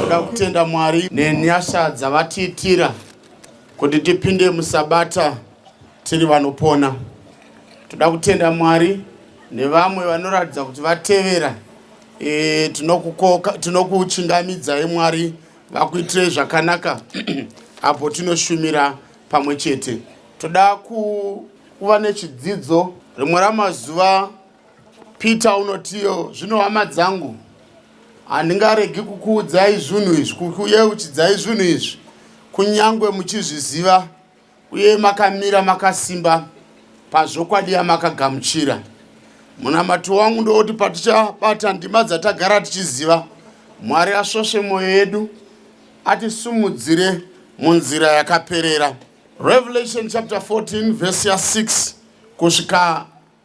Toda kutenda Mwari nenyasha dzavatiitira kuti tipinde musabata tiri vanopona. Toda kutenda Mwari nevamwe vanoratidza kuti vatevera e, tinokuchingamidzai Mwari vakuitirei zvakanaka apo tinoshumira pamwe chete. Toda kuva nechidzidzo rimwe ramazuva Peter unotiyo zvino hama dzangu handingaregi kukuudzai zvinhu izvi kukuyeuchidzai zvinhu izvi kunyange muchizviziva uye makamira makasimba pazvokwadi yamakagamuchira munamato wangu ndowoti patichabata ndima dzatagara tichiziva mwari asvosve mwoyo yedu atisumudzire munzira yakaperera revelation chapter 14 vhesi ya 6 kusvika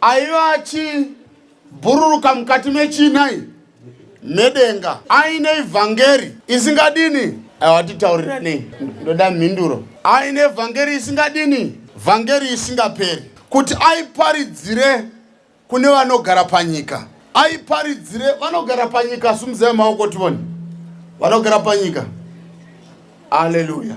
Aiva achibhururuka mukati mechinai medenga aine vhangeri isingadini awatitauriranei ndoda mhinduro aine vhangeri isingadini vhangeri isingaperi kuti aiparidzire kune vanogara panyika aiparidzire vanogara panyika sumuzai maoko tivone vanogara panyika aleluya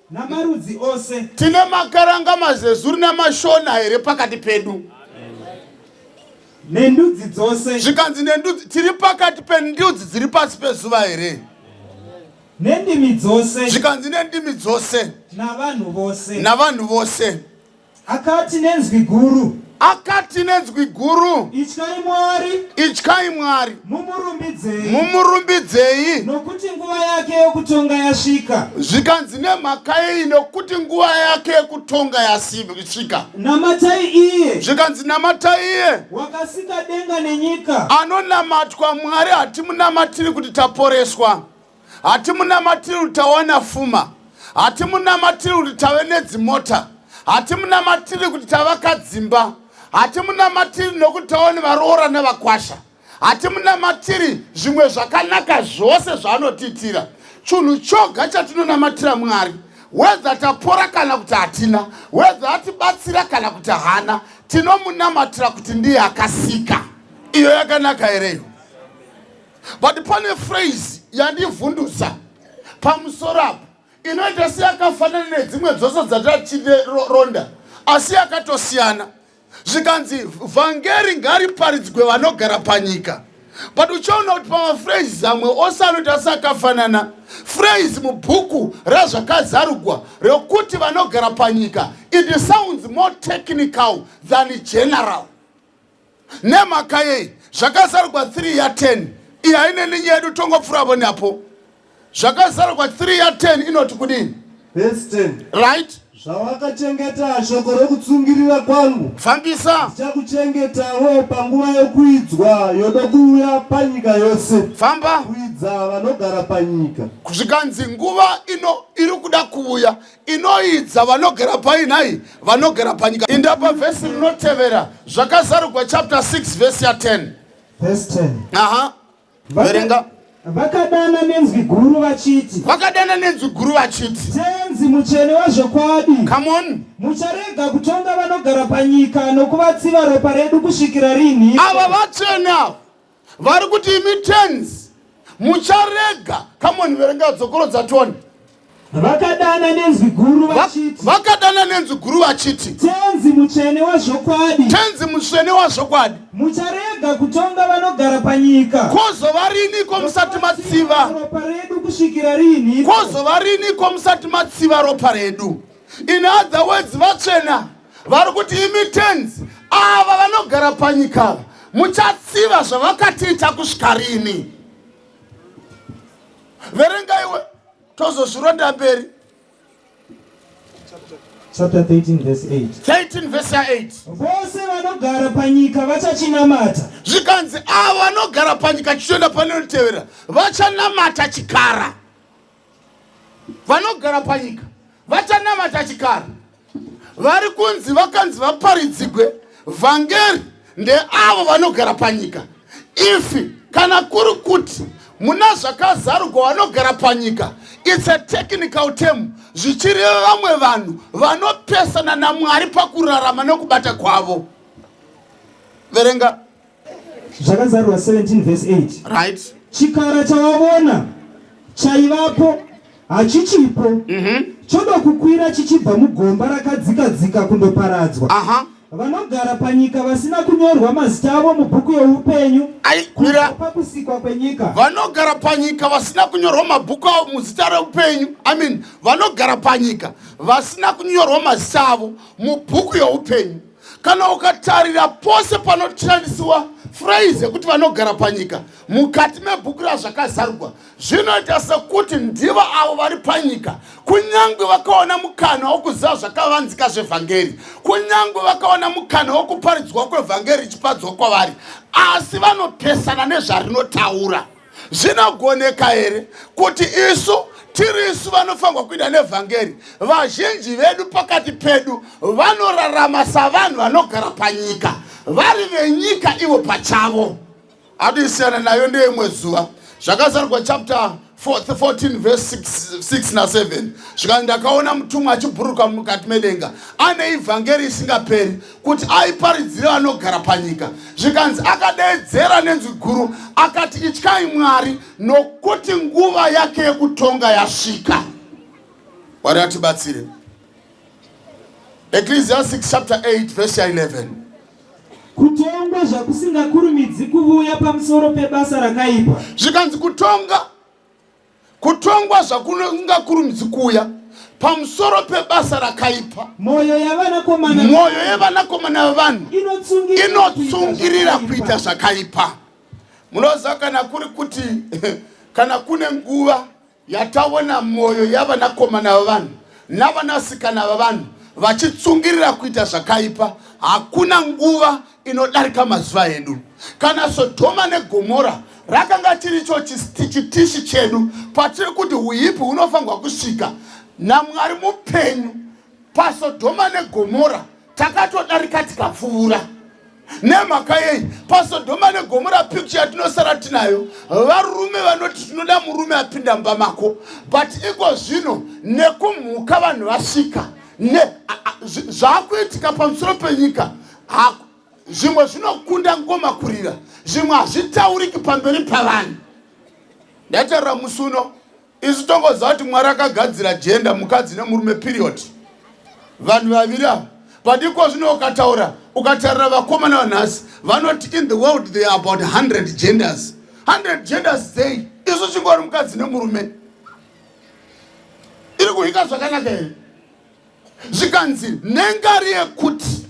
namarudzi ose. Tine makaranga, mazezuru namashona here pakati pedu? Nendudzi dzose. Zvikanzi nendudzi, tiri pakati pendudzi dziri pasi pezuva here? Nendimi dzose. Zvikanzi nendimi dzose. Navanhu vose. Navanhu vose. Akati nenzwi guru. Akati nenzwi guru. Ityai Mwari. Ityai Mwari. Mumurumbidzei. Mumurumbidzei. Nokuti nguva yake yokutonga yasvika. Zvikanzi nemhaka yei nokuti nguva yake yokutonga yasvika. Namatai iye. Zvikanzi namatai iye. Wakasika denga nenyika. Anonamatwa Mwari hatimunamatiri kuti taporeswa. hatimunamatiri kuti tawana fuma hatimunamatiri kuti tave nedzimota hatimunamatiri kuti tavakadzimba hatimunamatiri nokuti tava nevaroora nevakwasha hatimunamatiri zvimwe zvakanaka zvose zvaanotiitira chunhu choga chatinonamatira mwari wedza tapora kana kuti hatina wedza atibatsira kana kuti hana tinomunamatira kuti ndiye akasika iyo yakanaka here iyo but pane phrase yandivhundutsa pamusoro apo inoita seyakafanana nedzimwe dzose dzatatironda asi yakatosiyana zvikanzi vhangeri ngariparidzwe vanogara panyika but uchaona kuti pamafraise amwe ose anoita sakafanana fraise mubhuku razvakazarugwa rekuti vanogara panyika it sounds more technical than general nemhaka yei zvakazarugwa 3 ya 10 iyi haine ninyi yedu tongopfuravo neapo zvakazarugwa 3 ya 10 inoti kudini Verse 10. right Zvawakachengeta shoko rokutsungirira kwangu fambisa ndichakuchengetawo panguva yokuidzwa yodokuuya panyika yose famba kuidza vanogara panyika. zvikanzi nguva ino iri kuda kuuya inoidza vanogera pai nhai vanogera panyika indapa vhesi rinotevera zvakazarugwa chapter 6 vhesi ya 10 Verse 10. aha verenga Vaka- Vakadana nenzwi guru vachiti, vakadana nenzwi guru vachiti Tenzi mutsvene wazvokwadi, come on mucharega kutonga vanogara panyika nokuvatsiva ropa redu kusvikira rinhi? ava vatsvene ava vari kuti imi tens mucharega kamoni verenga dzokoro dzatoni vakadana nenzwi guru vachiti vakadana nenzwi guru vachiti tenzi mutsvene wazvokwadi tenzi mutsvene wazvokwadi mucharega kutonga vanogara panyika kwozova riniko musati matsiva ropa redu kusvikira rinhi kwozova riniko musati matsiva ropa redu in other words vatsvena vari kuti imi tenzi ava vanogara panyika ava muchatsiva zvavakatiita kusvika rini verenga iwe tozozvironda mberi chapter 13 verse 8 13 verse 8 vose vanogara panyika vachachinamata zvikanzi avo vanogara panyika chichionda pane unotevera vachanamata chikara Vanogara panyika vachanamata chikara vari kunzi vakanzi vaparidzigwe vhangeri ndeavo vanogara panyika ifi kana kuri kuti muna zvakazarugwa vanogara panyika its a technical term zvichireva vamwe vanhu vanopesana namwari pakurarama nokubata kwavo verenga zvakazarurwa 17 vese 8 right chikara chawavona chaivapo hachichipo mm -hmm. choda kukwira chichibva mugomba rakadzika dzika kundoparadzwa uh -huh. vanogara panyika vasina kunyorwa mazita avo mubhuku youpenyu kubva pakusikwa kwenyika vanogara panyika vasina kunyorwa mabhuku avo muzita reupenyu i mean vanogara panyika vasina kunyorwa mazita avo mubhuku youpenyu kana ukatarira pose panoshandisiwa phrase yekuti vanogara panyika mukati mebhuku razvakazarugwa zvinoita sekuti ndivo avo vari panyika kunyange vakaona mukana wokuziva zvakavanzika zvevhangeri kunyange vakaona mukana wokuparidzwa kwevhangeri ichipadzwa kwavari asi vanopesana nezvarinotaura zvinogoneka here kuti isu tiri isu vanofanirwa kuita nevhangeri vazhinji vedu pakati pedu vanorarama savanhu vanogara panyika vari venyika ivo pachavo atoisiyana nayo ndeimwe zuva zvakazarwa chapter 14 verse 6 na 7 zvikanzi ndakaona mutumwa achibhuruka mukati medenga ane ivhangeri isingaperi kuti aiparidzire vanogara panyika zvikanzi akadeedzera nenzwi guru akati ityai mwari nokuti nguva yake yekutonga yasvika mwari atibatsire ecclesiastic chapter 8 verse 11 kutongwa zvakusingakurumidzi kuvuya pamusoro pebasa rakaipa zvikanzi kutonga Kutongwa zvakungakurumidzi kuuya pamusoro pebasa rakaipa. Mwoyo yevanakomana mwoyo yevanakomana vevanhu inotsungirira kuita zvakaipa. Munoziva kana kuri kuti kana kune nguva yataona mwoyo yavanakomana vevanhu navanasikana vevanhu vachitsungirira kuita zvakaipa, hakuna nguva inodarika mazuva edu kana sodhoma negomora rakanga chiricho chitishi chedu patiri kuti uipi hunofanirwa kusvika namwari mupenyu pasodhoma negomora takatodarika tikapfuura nemhaka yei pasodhoma negomora picture yatinosara tinayo varume vanoti tinoda murume apinda mba mako but iko zvino nekumhuka vanhu vasvika ne zvaakuitika pamusoro penyika hako zvimwe zvinokunda ngoma kurira zvimwe hazvitauriki pamberi pavanhu ndataura musi uno isu tongoziva kuti mwari akagadzira jenda mukadzi nemurume period vanhu vaviri ava padiko zvino ukataura ukatarira vakomana vanhasi vanoti in the world they are about 100 genders 100 genders dzei isu chingori mukadzi nemurume iri kuhika zvakanaka here zvikanzi nhengari yekuti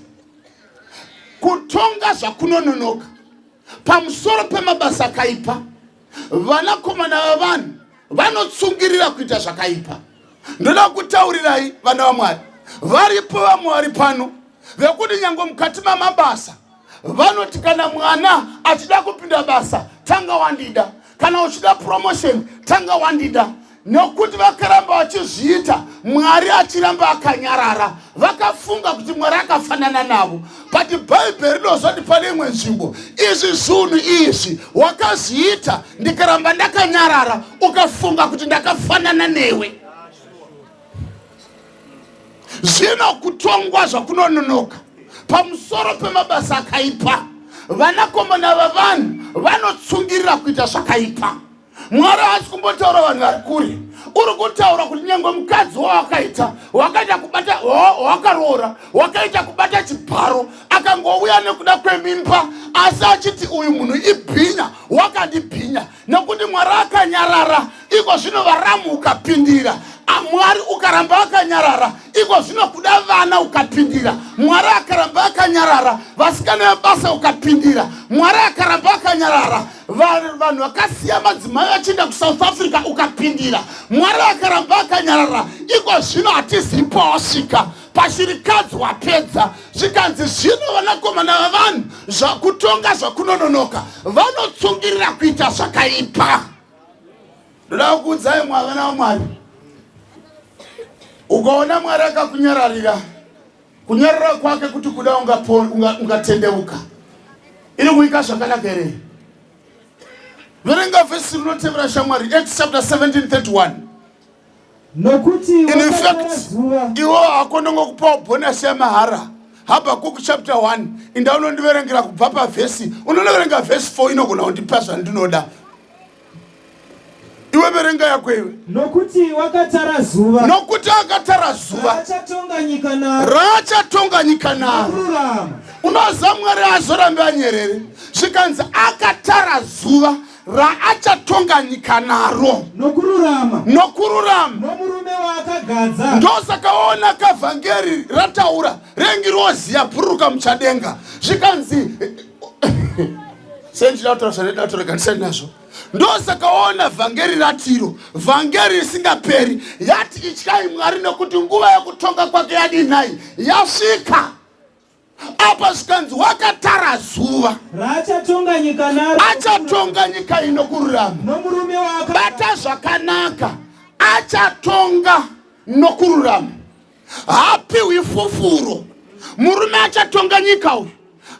kutonga zvakunononoka pamusoro pemabasa akaipa vanakomana vavanhu vanotsungirira kuita zvakaipa ndoda kutaurirai vana vamwari varipo vamwari pano vekuti nyange mukati mamabasa vanoti kana mwana achida kupinda basa tanga wandida kana uchida promotion tanga wandida nokuti vakaramba vachizviita mwari achiramba akanyarara vakafunga kuti mwari akafanana navo but bhaibheri rinozoti pane imwe nzvimbo izvi zvinhu izvi wakazviita ndikaramba ndakanyarara ukafunga kuti ndakafanana newe zvino kutongwa zvakunononoka pamusoro pemabasa akaipa vanakomana vavanhu vanotsungirira kuita zvakaipa mwari haasi kumbotaura vanhu vari kure uri kutaura kuti nyange mukadzi wawakaita wakaita kubata wakaroora wakaita kubata chibharo akangouya nekuda kwemimba asi achiti uyu munhu ibhinya wakandibhinya nokuti mwari akanyarara iko zvino varamu ukapindira amwari ukaramba vakanyarara iko zvino kuda vana ukapindira mwari akaramba akanyarara vasikana vebasa ukapindira mwari akaramba akanyarara vanhu vakasiya madzimai vachienda kusouth africa ukapindira mwari akaramba akanyarara iko zvino hatizipo wasvika pashirikadzi wapedza zvikanzi zvino vanakomana vavanhu zvakutonga zvakunononoka vanotsungirira kuita zvakaipa ndoda kukuudzai mwa vana vamwari ukaona mwari akakunyararira kunyarara kwake kuti kuda ungatendeuka iri kuika zvakanaka here verenga vhesi rinotevera shamwari acts chapter 17 31 in fact iwo hako ndongokupawo bhonasi yamahara habakuku chapter 1 inda unondiverengera kubva pavhesi unonoverenga vhesi 4 inogona kundipa zvandinoda iwe verenga yako iwe nokuti wakatara zuva nokuti akatara zuva raachatonga nyika naro raachatonga nyika naro unoziva mwari azorambe anyerere zvikanzi akatara zuva raachatonga nyika naro nokururama nokururama nomurume waakagadza ndosakaona kavhangeri rataura rengirozi yabhururuka muchadenga zvikanzi sendidautaura zvanedatoreganisani nazvo ndosakaona vhangeri ratiro vhangeri risingaperi yati ityai mwari nokuti nguva yokutonga kwake yadinhai yasvika apa zvikanzi wakatara zuva raachatonga nyika naro achatonga nyika ino kururama nomurume waka bata zvakanaka achatonga nokururama haapiwi fufuro murume achatonga nyika uyu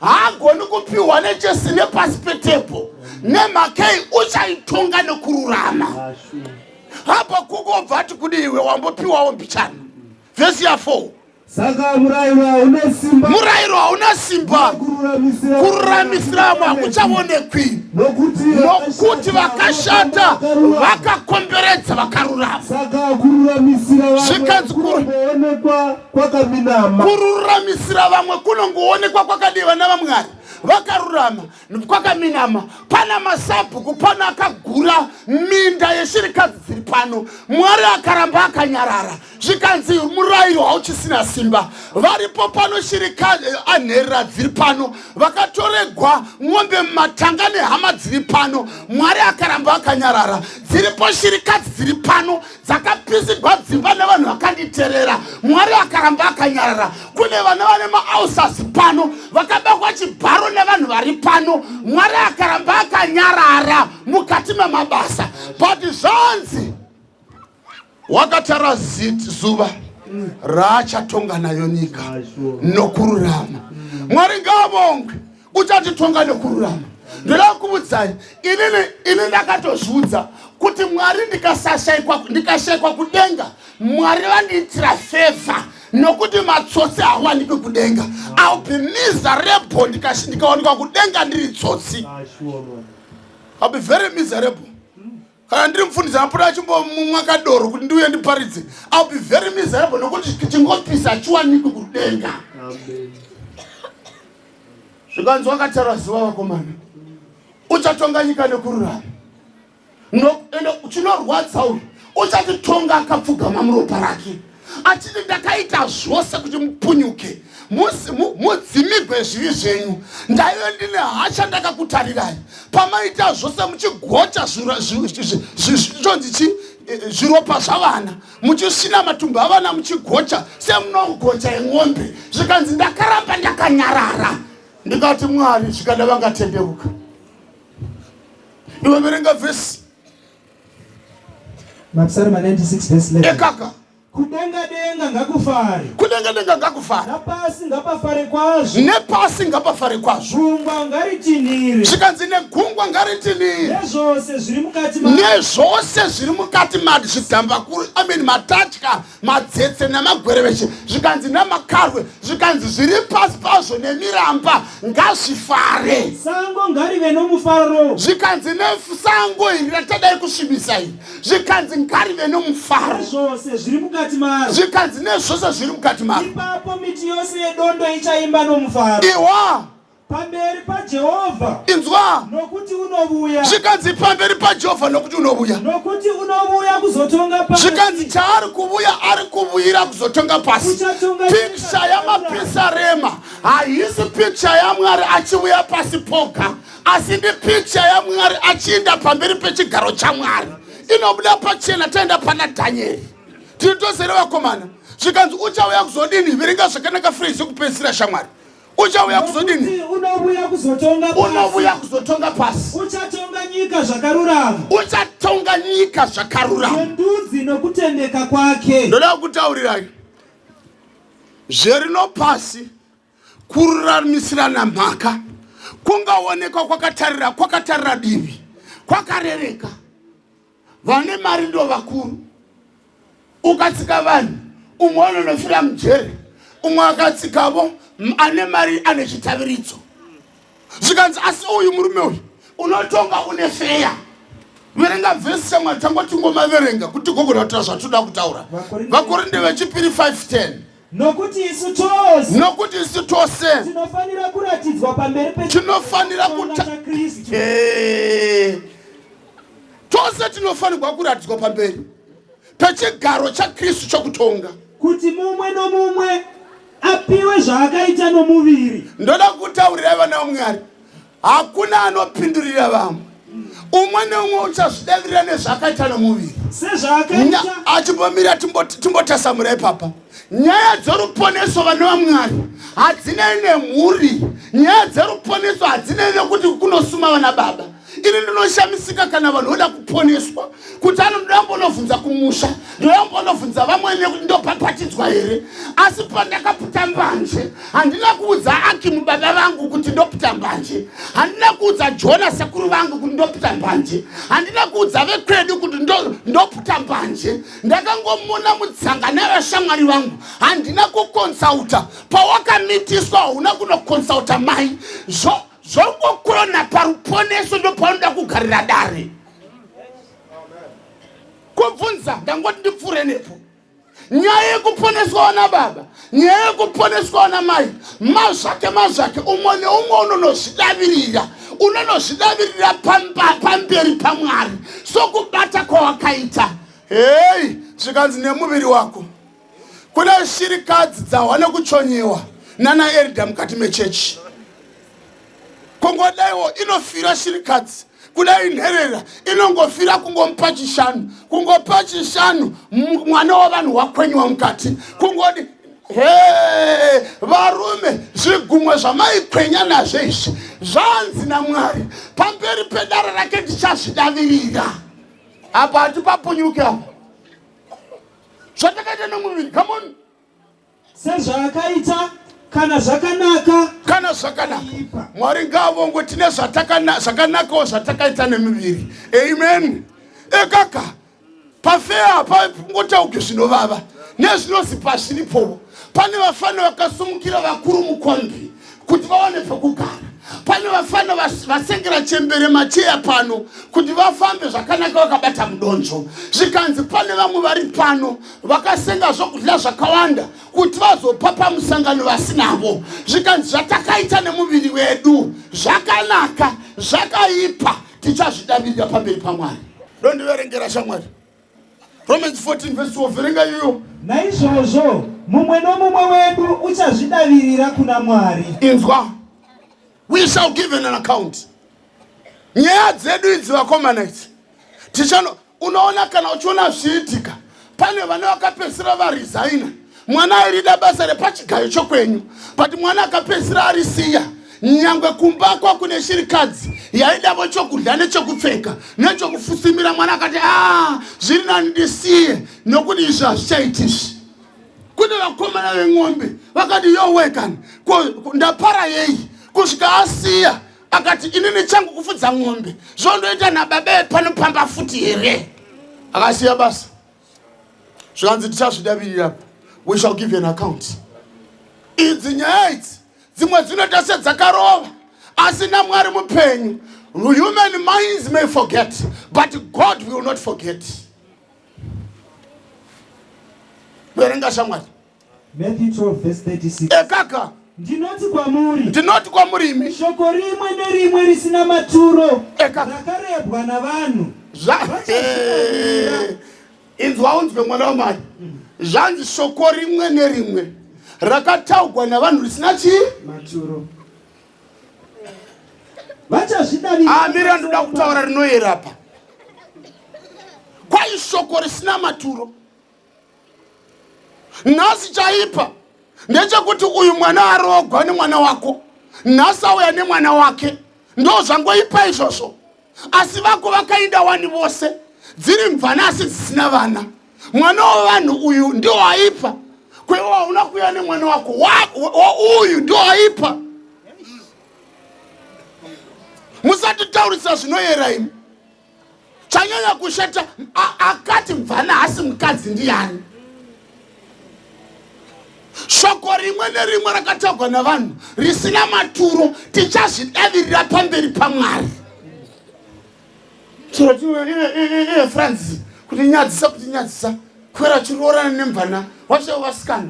haagoni kupiwa nechesi nepasi petepo nemhakei uchaitonga nekururama hapa kukobva ati kudi iwe wambopiwawo mbichana vhesi ya 4 saka murairo hauna simba murairo hauna simba kururamisira vamwe hakuchaonekwi nokuti vakashata vakakomberedza vakarurama zvikanzi kururamisira vamwe kunongoonekwa kwakadeva navamwari vakarurama kwakaminama pana masabhuku pano akagura minda yeshirikadzi dziri pano mwari akaramba akanyarara zvikanzi murayiro hauchisina simba varipo pano shirikadzi eh, anherera dziri pano vakatoregwa ng'ombe mumatanga nehama dziri pano mwari akaramba akanyarara dziripo shirikadzi dziri pano dzakapisigwa dzimba nevanhu vakanditerera mwari akaramba akanyarara kune vana vane maausasi pano vakabakwa chibharo nevanhu vari pano mwari akaramba akanyarara mukati memabasa but zvanzi wakatara zuva raachatonga nayo nyika nokururama mwari ngaavongwe uchatitonga nekururama ndoda kukuudzai inini ini ndakatozviudza kuti mwari ndikasashaikwa ndikashaikwa kudenga mwari vandiitira fevha nokuti matsotsi hawaniki kudenga ill be miserable ndikawanikwa kudenga ndiri tsotsi ill be very miserable kana ndiri mufundisi anopota achimbomumwa kadoro kuti ndiuye ndiparidze ill be very miserable nokuti chingopisa achiwanikwi kudenga zvikanzi wakataura ziva vakomana uchatonga nyika nekururama noende chinorwadza uyu uchatitonga akapfugama muropa rake achiti ndakaita zvose kuti mupunyuke mudzimigwe zvivi zvenyu ndaive ndine hasha ndakakutarirai pamaita zvose muchigocha zvitonzi chi zviropa zvavana muchisina matumbu avana muchigocha semunogocha yemwombe zvikanzi ndakaramba ndakanyarara ndikati mwari zvikada vangatendeuka iwe verenga vhesi Mapsalm 96 verse 11. Ekaka. Kudenga denga ngakufare. Kudenga denga ngakufare. Napasi ngapafare kwazvo. Nepasi ngapafare kwazvo. Gungwa ngaritinhire. Zvikanzi negungwa ngaritinhire. Nezvose zviri mukati mazvo. Nezvose zviri mukati mazvo zvidhambakuru. I mean matatya. madzetse namagwereveshe zvikanzi namakarwe zvikanzi zviri pasi pazvo nemiramba ngazvifare sango ngarive nomufaro zvikanzi nesango iri ratadai kusvibisa iri zvikanzi ngarive nomufaro zvose zviri mukati maro zvikanzi nezvose zviri mukati maro ipapo miti yose yedondo ichaimba nomufaro iwa pamberi paJehovha inzwa nokuti unovuya zvikanzi pamberi paJehovha nokuti unovuya nokuti unovuya kuzotonga pasi zvikanzi chaari kuvuya ari kuvuyira kuzotonga pasi piksha yamapisarema haisi piksha yamwari achivuya pasi poga asi ndi piksha yamwari achiinda pamberi pechigaro chamwari inobuda pachena taenda pana dhanyeri tiri tose revakomana zvikanzi uchauya kuzodini viringa zvakanaka free zvekupedzisira shamwari uchauya kuzodini unovuya kuzotonga unovuya kuzotonga pasi uchatonga nyika zvakarurama uchatonga nyika zvakarurama ndudzi nokutendeka kwake ndoda kukutaurirai zverino pasi kururamisirana mhaka kungaonekwa kwakatarira kwakatarira divi kwakarereka vane mari ndo vakuru ukatsika vanhu umwe anonofira mujere umwe akatsikavo ane mari ane chitaviridzo zvikanzi asi uyu murume uyu unotonga une feya verenga vhesi chamwari tangotingomaverenga kuti gogona kutaura zvatoda kutaura vakorinde vechipiri 510 Nokuti isu tose. Nokuti isu tose. Tinofanira kuratidzwa pamberi pe. Tinofanira kuta. Eh. Tose tinofanirwa kuratidzwa pamberi pechigaro chaKristu chokutonga. Kuti mumwe nomumwe apiwe zvaakaita nomuviri. Ndoda kutaurira vana vaMwari. hakuna anopindurira vamwe umwe neumwe uchazvidavirira nezvaakaita nomuviri achimbomira timbotasamura ipapa nyaya dzoruponeso vana vamwari hadzinei nemhuri nyaya dzeruponeso hadzinei nekuti kunosuma vana baba ini ndinoshamisika kana vanhu voda kuponeswa kuti anoda kumbonobvunza kumusha ndoda kumbonobvunza vamwene kuti ndopapatidzwa here asi pandakaputa mbanje handina kuudza akimu baba vangu kuti ndoputa mbanje handina kuudza jona sekuru vangu kuti ndoputa mbanje handina kuudza vekwedu kuti ndoputa mbanje ndakangomona mutsanga nevashamwari vangu handina kukonsauta pawakamitiswa hauna kunokonsauta mai zvokokona paruponeso ndopaunoda kugarira dare kubvunza ndangoti ndipfuure nepo nyaya yekuponeswawo nababa nyaya yekuponeswawo namai mazvake mazvake umwe neumwe unonozvidavirira unonozvidavirira pamberi pamwari sokubata kwawakaita heyi zvikanzi nemuviri wako kune shirikadzi dzahwa nekuchonyewa nana erida mukati mechechi kungodaiwo inofira shirikadzi kudai nherera inongofira kungomupa chishanu kungopa chishanu mwana wavanhu wakwenyiwa mukati kungodi he varume zvigumwe zvamaikwenya nazvo izvi zvanzi namwari pamberi pedara rake ndichazvidavirira apa hatipapunyuke apa zvatakaita nemuviri come on sezvaakaita kana zvakanaka kana zvakanaka mwari ngaavongwe tine zvakanakawo zvatakaita nemiviri amen ekaka pafeya apa ngotauke zvinovava nezvinozi pazviripovo pane vafana vakasumukira vakuru mukwambi kuti vawane pekugara pane vafana vasengera chembere macheya pano kuti vafambe zvakanaka vakabata mudonzvo zvikanzi pane vamwe vari pano vakasenga zvokudya zvakawanda kuti vazopa pamusangano vasinavo zvikanzi zvatakaita nemuviri wedu zvakanaka zvakaipa tichazvidavirira pamberi pamwari dondiverengera shamwari Romans 14 verse 12 verenga iyoyo. Naizvozvo mumwe nomumwe wedu uchazvidavirira kuna Mwari. Inzwa. We shall give an account. Nyaya dzedu idzi vakomana idzi. Tichano unoona kana uchiona zviitika pane vane vakapesera varesigner mwana airida basa repachigayo chokwenyu but mwana akapedzisira arisiya nyangwe kumba kwa kune shirikadzi yaidavo chokudya nechokupfeka nechokufusimira mwana akati a ah, zviri nani ndisiye nokuti izvi hazvichaitizvi kune vakomana veng'ombe vakati yowekani ndapara yei kusvika asiya akati inini changu kufudza ng'ombe zvondoita nababa epanopamba futi here akasiya basa zvikanzi tichazvidavirira we shall give an account idzi nyaya idzi dzimwe dzinoita sedzakarova asi namwari mupenyu human minds may forget but god will not forget verenga shamwari Matthew 12 verse 36. Ekaka. Ndinoti kwamuri. Ndinoti kwamuri imi. Shoko rimwe nerimwe risina maturo. Ekaka. Rakarebwa navanhu. Zva. Inzwa unzwe mwana wamai. Mm. Zvanzi shoko rimwe nerimwe rakataugwa navanhu risina chi maturo. Vachazvidarira. Amira ah, ndoda kutaura rinoyera pa. Kwai shoko risina maturo. nhasi chaipa ndechekuti uyu mwana arogwa nemwana wako nhasi auya nemwana wake ndo zvangoipa izvozvo asi vako vakainda wani vose dziri mvana asi dzisina vana mwana wevanhu uyu ndio aipa kweiwo hauna kuya nemwana wako uyu ndio aipa musatitaurisa zvinoyera imi chanyanya kushata akati mvana hasi mukadzi ndiyani shoko rimwe nerimwe rakatagwa navanhu risina maturo tichazvidavirira pamberi pamwari chirotiefranzi kuti nyadzisa kuti nyadzisa kwera chiroorana nemvana wacho vasikana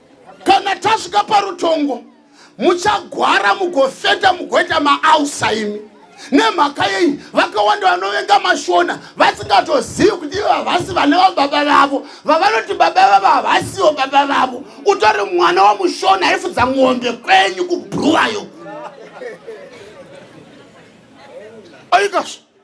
kana tasvika parutongo muchagwara mugofenda mugoita maausa imi nemhaka yei vakawanda vanovenga mashona vasingatozivi kuti ivo havasi vana vababa vavo vavanoti baba vavo havasiwo baba vavo utori mwana wamushona aifudza ng'ombe kwenyu kubhuruwayo oikazvo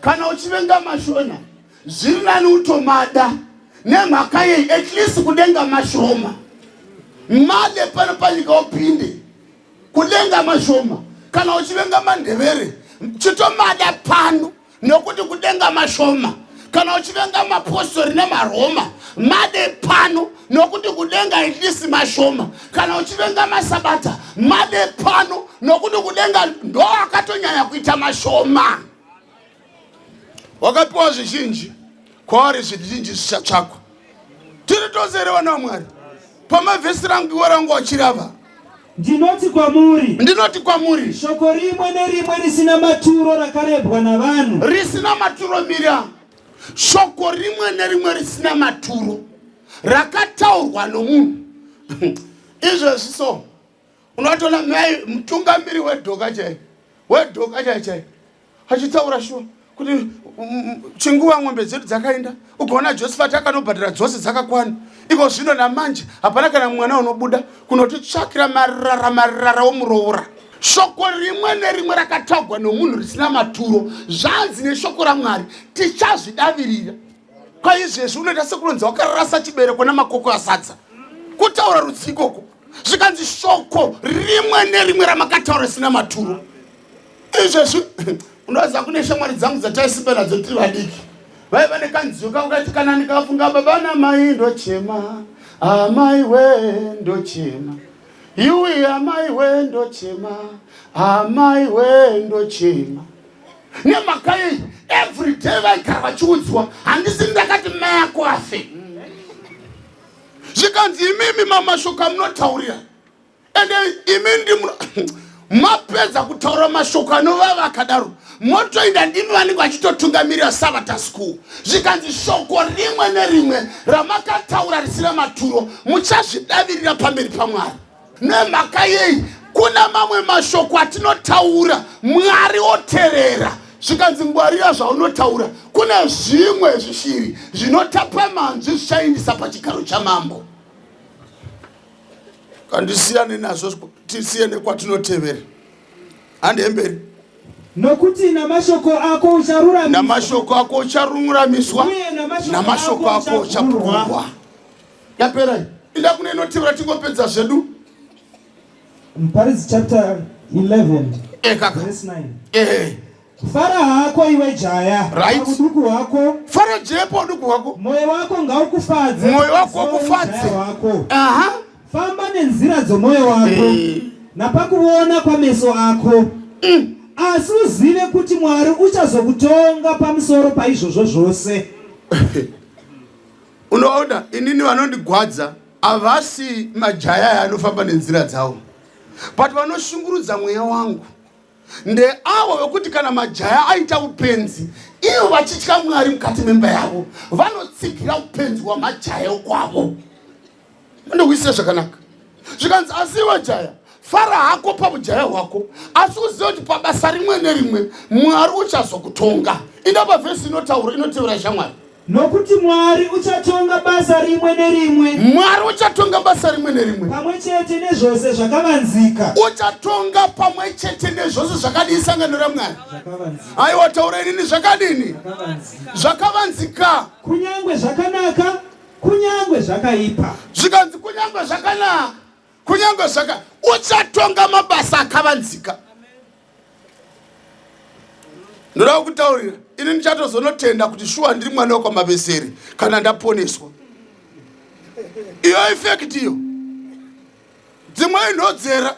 Kana uchivenga mashona zviri nani utomada nemhaka yei at least kudenga mashoma made pano panyika upinde kudenga mashoma kana uchivenga mandevere chitomada pano nokuti kudenga mashoma kana uchivenga mapostori nemaroma made pano nokuti kudenga at least mashoma kana uchivenga masabata made pano nokuti kudenga ndo akatonyanya kuita mashoma wakapiwa zvizhinji kwaari zvizhinji zvichatsvakwa tiri tose here vana vamwari pamavhesi rangu iwe rangu wachirava ndinoti kwamuri ndinoti kwamuri shoko rimwe nerimwe risina maturo rakarebwa navanhu risina maturo mira shoko rimwe nerimwe risina maturo rakataurwa nomunhu izvezvi so unotoona mai mutungamiri wedhoka chai wedhoka chai chai achitaura shuwa kuti mm, mm, chinguva ng'ombe dzedu dzakaenda ukaona josephat akanobhadhara dzose dzakakwana iko zvino namanje hapana kana mwana unobuda kunotitsvakira marara marara womuroora shoko rimwe nerimwe rakatagwa nomunhu risina maturo zvanzi neshoko ramwari tichazvidavirira kwaizvezvi unoita sekunonzi wakarasa chibereko namakoko asadza kutaura rudzikoko zvikanzi shoko rimwe nerimwe ramakataura risina maturo izvezvi unoziva kune shamwari dzangu dzataisimba nadzo tiri vadiki vaiva nekanziyo kangu kati kana ndikafunga baba namai ndochema amai we ndochema yuwi amai we ndochema amai we ndochema nemhaka yei everyday vaigara vachiudzwa handisi ndakati mai ako afe zvikanzi imimi mamashoko amunotaurira ende imi ndi mapedza kutaura mashoko anovava akadaro motoinda ndimi vanenge vachitotungamirira sabata school zvikanzi shoko rimwe nerimwe ramakataura risina maturo muchazvidavirira pamberi pamwari Nemhaka yei kuna mamwe mashoko atinotaura Mwari oterera zvikanzi ngwarira zvaunotaura kune zvimwe zvishiri zvinotapa manzwi zvichaindisa pachigaro chamambo kandisiyane nazvo tisiye nekwatinotevera handemberi nokuti namashoko ako ucharuramiswa namashoko ako ucharuramiswa namashoko ako uchapurwa yapera iyi inda kune inotevera tingopedza zvedu muparidzi chapter 11 eh, verse 9 eh. fara hako iwe jaya right. uduku hwako fara jaya pa uduku hwako moyo wako ngaukufadze moyo wako wakufadze wako aha famba nenzira dzomoyo wako eh. napakuona kwameso ako mm. asi uzive kuti mwari uchazokutonga pamusoro paizvozvo zvose unoona inini vanondigwadza havasi majaya aya anofamba nenzira dzavo but vanoshungurudza mweya wangu ndeavo vekuti kana majaya aita upenzi ivo vachitya mwari mukati memba yavo vanotsigira upenzi hwamajaya ukwavo Ndokuisira zvakanaka. Zvikanzi asi iwe jaya fara hako pabujaya hwako asi uzive kuti pabasa rimwe nerimwe mwari uchazokutonga inda pavhesi inotaura inotevera shamwari nokuti mwari uchatonga basa rimwe nerimwe mwari uchatonga basa rimwe nerimwe pamwe chete nezvose zvakavanzika uchatonga pamwe chete nezvose zvakadii sangano ramwari aiwa taura inini zvakadini zvakavanzika kunyange zvakanaka kunyangwe zvakaipa zvikanzi kunyangwe zvakanaka kunyangwe zvaka uchatonga mabasa akavanzika ndoda kutaurira ini ndichatozonotenda kuti shuwa ndiri mwana wekwamabeseri kana ndaponeswa iyo ifekti iyo dzimwe inhodzera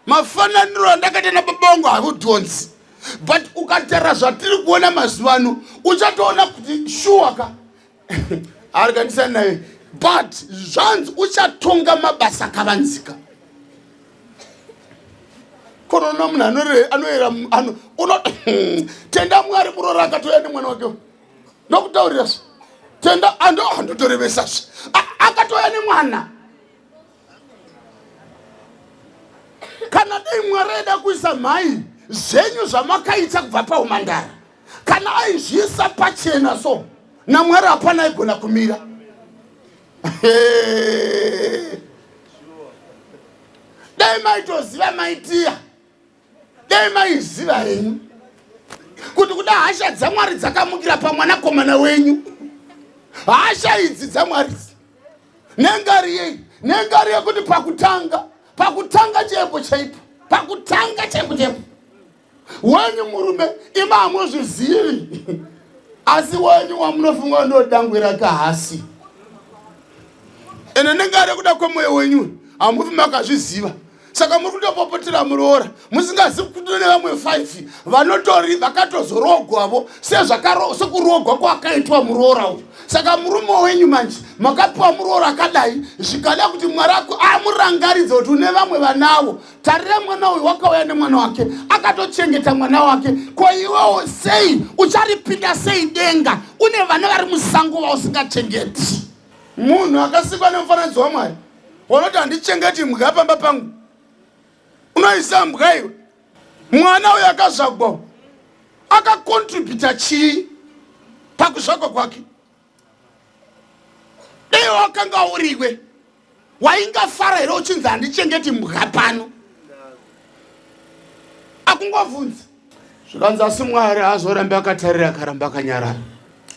mafananiro andakaita nababongo hakudhonzi but ukatara zvatiri kuona mazuva ano uchatoona kuti shuwa ka arikanisa naye but zvanzi uchatonga mabasa akavanzika konoona munhu anoera tenda mwari kurora akatouya nemwana wake ndokutaurira zve tenda andotorevesa zve akatouya nemwana kana dai mwari aida kuisa mhai zvenyu zvamakaita kubva paumandara kana aizviisa pachena so namwari hapana aigona kumira dai maitoziva maitiya dai maiziva henyu kuti kuda hasha dzamwari dzakamukira pamwanakomana wenyu hasha idzi dzamwari nengari yei nengari yekuti pakutanga pakutanga chaipo chaipo pakutanga chaipo chaipo wenyu murume ima hamuzvizivi asi wenyu wamunofunga ndodangwira kahasi ende ndinga ari kuda kwemwoyo wenyu hamufi makazviziva saka muri kutopopotera muroora musingazivi kuti ne vamwe five vanotori vakatozoroogwavo sekuroogwa kwakaitwa muroora uyu saka murume wenyu manje makapiwa muroora akadai zvikada kuti mwari ako amurangaridze kuti une vamwe vanavo tarira mwana uyu wakauya nemwana wake akatochengeta mwana wake ko iwewo sei ucharipinda sei denga une vana vari musango vausingachengeti munhu akasikwa nemufananidzo wamwari wanoti handichengeti mbwa pamba pangu unoisa mbwa iwe mwana uyo akazvagwa akakontributa chii pakuzvagwa kwake dai wakanga uriwe waingafara here uchinzi handichengeti mbwa pano akungobvunza zvikanzi asi mwari haazorambe akatarira akaramba akanyarara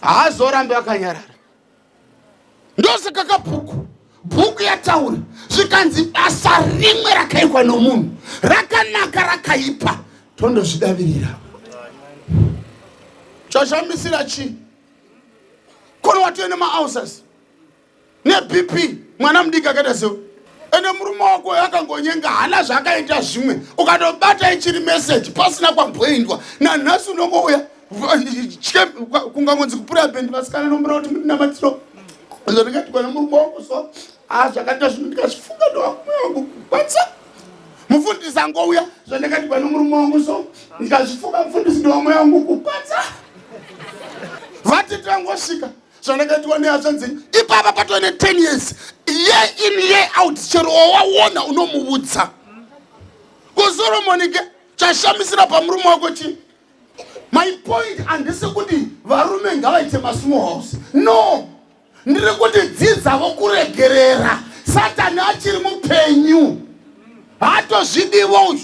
haazorambe akanyarara ndosaka kabhuku bhuku yataura zvikanzi basa rimwe rakaikwa nomunhu rakanaka rakaipa tondozvidavirira chashamisira chii kono watove nemaausas nebp mwana mudiki akaita seo ende murume wako akangonyenga hana zvaakaita zvimwe ukatobata ichiri meseji pasina kwamboindwa nanhasi unongouya kungangonzi kupura bendi vasikana nombera kuti mundinamatiro zvatingatikwana murume wako so a ah, zvakaita zvino ndikazvifunga ndowakumwe wangu kukwanisa mufundisi angouya zvandakadibwa nomurume wangu so ndikazvifuka mufundisi ndowamweya wangu kupatsa vatete vangosvika zvandakaitiwa nehashanzi dzenyu ipapa patove ne 10 years year in year out chero wawaona unomuudza kusoromoni ke chashamisira pamurume wako chii my point handisi kuti varume ngavaite masmall house no ndiri kuti dzidzavo kuregerera satani achiri mupenyu haatozvidivo uyu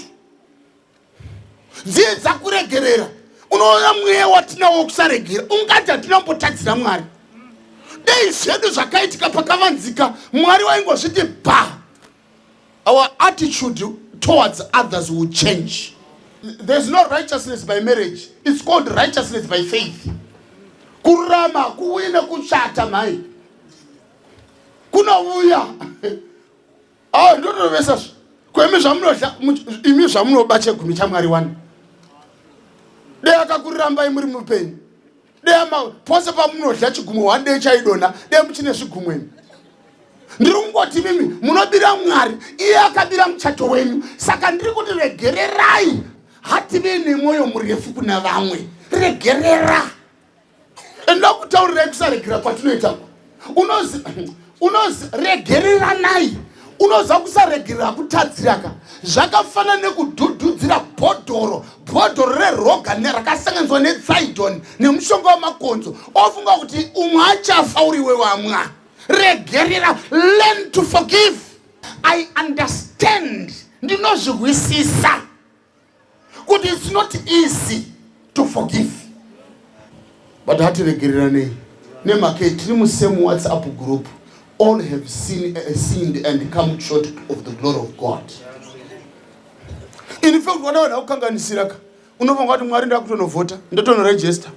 dzidza kuregerera unoona mweya watinawo wekusaregera ungati hatina kumbotadzira mwari dei zvedu zvakaitika pakavanzika mwari waingozviti bhaa Our attitude towards others will change. There's no righteousness by marriage. It's called righteousness by faith. Kurama kuwina kuchata mhai. Kunouya. Ah, ndotovesa zvo. Kwemi zvamunodya imi zvamunoba chegumi chaMwari wani. Dai akakurambai muri mupenyu. dea ma pose pamunodya chigumwe one day chaidonha dea muchine zvigumwe imi ndiri kungoti mimi munobira mwari iye akabira muchato wenyu saka ndiri kuti regererai hative nemwoyo murefu kuna vamwe regerera enda kutaurirai kusaregera kwatinoita unozi unozi regereranai unoziva kusaregerera kutadziraka zvakafanana nekudhudhudzira bhodhoro bhodhoro reroga nerakasanganiswa netsaidon nemushonga wemakonzo ofunga kuti umwe achafa uri iwe wamwa regerera learn to forgive i understand ndinozvihwisisa kuti it's not easy to forgive but hatiregereranei nemhaka yetiri musame whatsapp group all have seen, uh, sinned and come short of the glory of god in fact vana vanhu akukanganisiraka unofunga kuti mwari ndakutonovhota ndotonoregista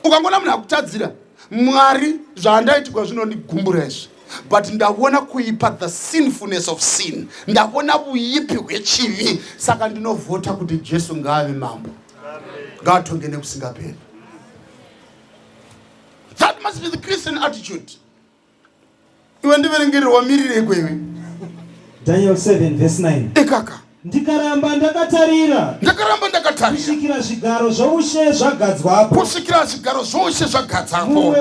ukangoona munhu akutadzira mwari zvaandaitikwa zvinondigumbura izvi but ndavona kuipa the sinfulness of sin ndavona vuipi hwechivi saka ndinovhota kuti jesu ngaave mambo ngaatonge nekusingaperi that must be the christian attitude iwe ndiverengererwa mirirei kwewe daniel 7 vese 9 ikaka Ndikaramba ndakatarira. Ndakaramba ndakatarira. Kusvikira zvigaro zvoushe zvagadzwapo. Kusvikira zvigaro zvoushe zvagadzwapo. Mumwe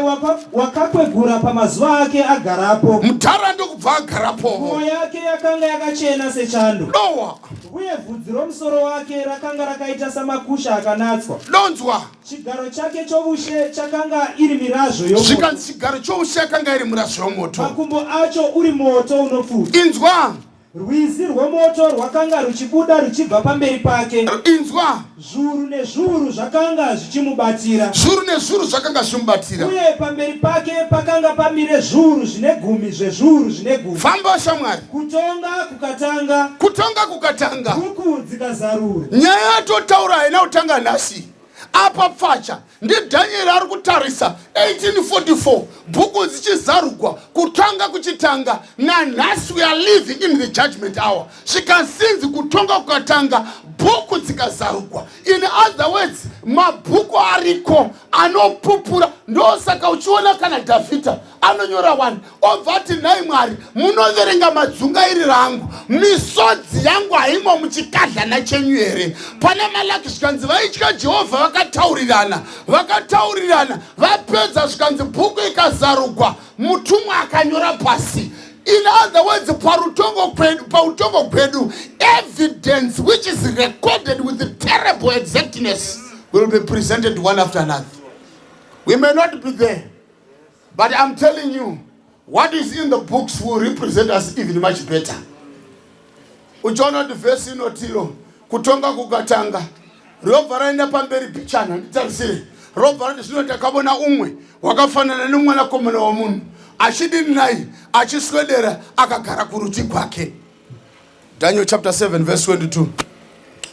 wakakwegura pamazuva ake agarapo. Mudhara ndokubva agarapo. Nguo yake yakanga yakachena sechando. Dowa. Uye vhudzi romusoro wake rakanga rakaita samakusha akanatswa. Donzwa. Chigaro chake choushe chakanga iri mirazvo yomoto. Zvikanzi chigaro choushe yakanga iri mirazvo yomoto. Makumbo acho uri moto unopfuta. Inzwa. Rwizi rwomoto rwakanga ruchibuda ruchibva pamberi pake. Inzwa. Zvuru nezvuru zvakanga zvichimubatira. Zvuru nezvuru zvakanga zvichimubatira. Uye pamberi pake pakanga pamire zvuru zvine gumi zvezvuru zvine gumi. Famba shamwari. Kutonga kukatanga. Kutonga kukatanga. Huku dzikazarura. Nyaya yatotaura haina kutanga nhasi. Apa pfacha ndiDhanyeri ari kutarisa 1844 bhuku dzichizarugwa kutanga kuchitanga nanhasi we are living in the judgment hour zvikasinzi kutonga kukatanga bhuku dzikazarugwa in other words mabhuku ariko anopupura ndosaka uchiona kana dhavhidha anonyora wani obva ati nhai mwari munoverenga madzungairi rangu misodzi yangu haimo muchikadlana chenyu here pane malaki zvikanzi vaitya jehovha vakataurirana vakataurirana vapedza zvikanzi bhuku ikazarugwa mutumwa akanyora pasi in other words parutongo kwedu pautongo kwedu evidence which is recorded with terrible exactness will be presented one after another we may not be there but I'm telling you what is in the books will represent us even much better uchiona kuti vhesi inotiro kutonga kukatanga robva raenda pamberi pichana nditarisire robva rati zvino takavona umwe wakafanana nemwanakomana wamunhu achidini naye achiswedera akagara kuruti kwake Daniel chapter 7 verse 22.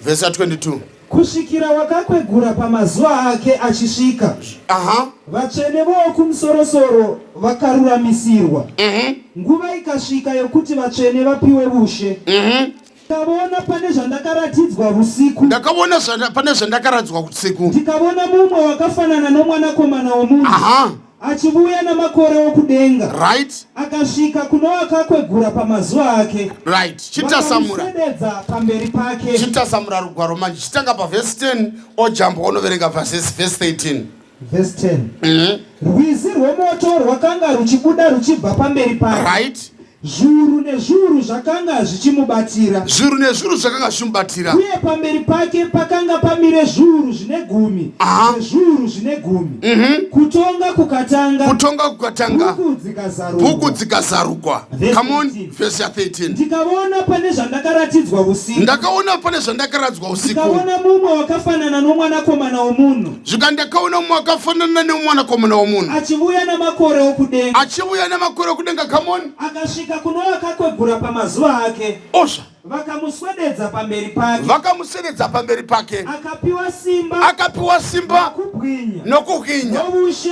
Verse 22. Kusvikira wakakwegura pamazuva ake achisvika. Aha. Vatsvene vokumusoro-soro vakaruramisirwa. Mhm. Nguva ikasvika yokuti vatsvene vapiwe vushe. Mhm. Ndakavona pane zvandakaratidzwa vusiku. Ndakavona pane zvandakaratidzwa vusiku. Ndikavona mumwe wakafanana nomwanakomana womunhu. Aha. achivuya namakore okudenga right akasvika kuno akakwegura pamazuva ake right chitasamura sededza pamberi pake chitasamura rugwaro manje chitanga pavhesi 10 ojambwa onoverenga vhasesi vhesi 13 vhesi 10 mm -hmm. rwizi rwomoto rwakanga ruchibuda ruchibva pamberi pake right Zviuru nezviuru zvakanga zvichimubatira. Zviuru nezviuru zvakanga zvichimubatira. Uye pamberi pake pakanga pamire zviuru zvine gumi nezviuru zvine gumi. Mm -hmm. Kutonga kukatanga. Kutonga kukatanga. Bhuku dzikazarukwa. Bhuku dzikazarukwa. Come on, verse 13. Ndikaona pane zvandakaratidzwa usiku. Ndakaona pane zvandakaratidzwa usiku. Ndikaona mumwe wakafanana nomwanakomana womunhu. zvika ndakaona umwe akafanana neumwanakomana womunhu achivuya namakore okudenga achivuya namakore okudenga kamoni akasvika kuno akakwegura pamazuva ake osva vakamuswededza pamberi pake vakamuswededza pamberi pake akapiwa simba akapiwa simba nokuhwinya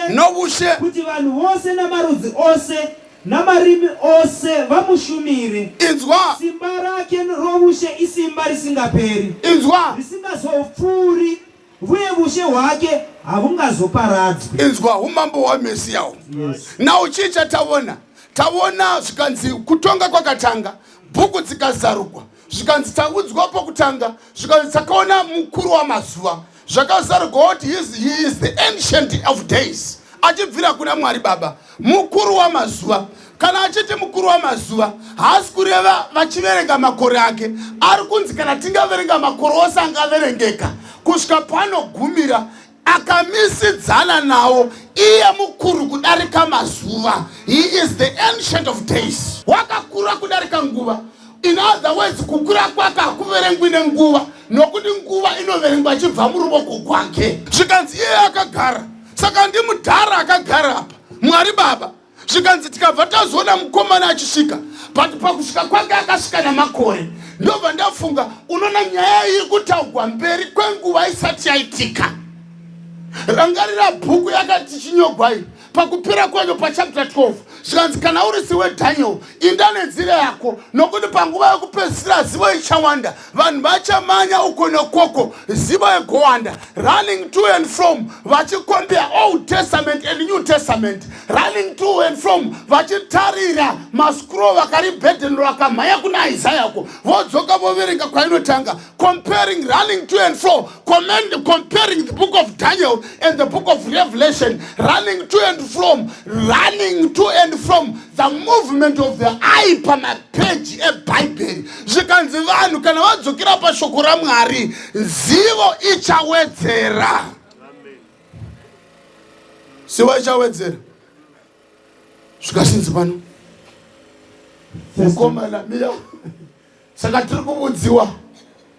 noushe kuti vanhu vose namarudzi ose namarimi ose vamushumire inzwa simba rake roushe isimba risingaperi inzwa risingazopfuuri Uye vushe hwake havungazoparadzwi. Inzwa umambo hwaMesiya uhu. Yes. Now chii chatavona? Tavona zvikanzi kutonga kwakatanga, bhuku dzikazarugwa, zvikanzi taudzwa pokutanga, zvikanzi takaona mukuru wamazuva, zvakazarugwa kuti he is the ancient of days achibvira kuna Mwari Baba. Mukuru wamazuva. Kana achiti mukuru wamazuva, haasi kureva vachiverenga makore ake. Ari kunzi kana tingaverenga makore ose angaverengeka kusvika panogumira akamisidzana nawo iye mukuru kudarika mazuva. He is the ancient of days. Wakakura kudarika nguva. In other words, kukura kwake hakuverengwi nenguva nokuti nguva inoverengwa achibva muruvoko kwake. Zvikanzi iye akagara saka ndimudhara akagara apa mwari baba zvikanzi tikabva tazoona mukomana achisvika but pakusvika kwake akasvika namakore ndobva ndafunga unoona nyaya iyi kutaugwa mberi kwenguva isati yaitika rangarira bhuku yakati chinyogwai pakupera kwenyo pachapta 12 zvikanzi kana uri siwe daniel inda nenzira yako nokuti panguva yokupedzisira zivo ichawanda vanhu vachamanya uko nokoko zivo yegowanda running to and from vachikombea old testament and new testament running to and from vachitarira mascroll vakaribhedheni rakamhanya kuna isaya ko vodzoka voverenga kwainotanga comparing running to and fro Comment, comparing the book of daniel and the book of revelation running to and from running to and from the movement of the eye pamapeji ebhaibheri zvikanzi vanhu kana vadzokera pashoko ramwari zivo ichawedzera zivo ichawedzera zvikasinzi pano mukomana miya saka tiri kuvudziwa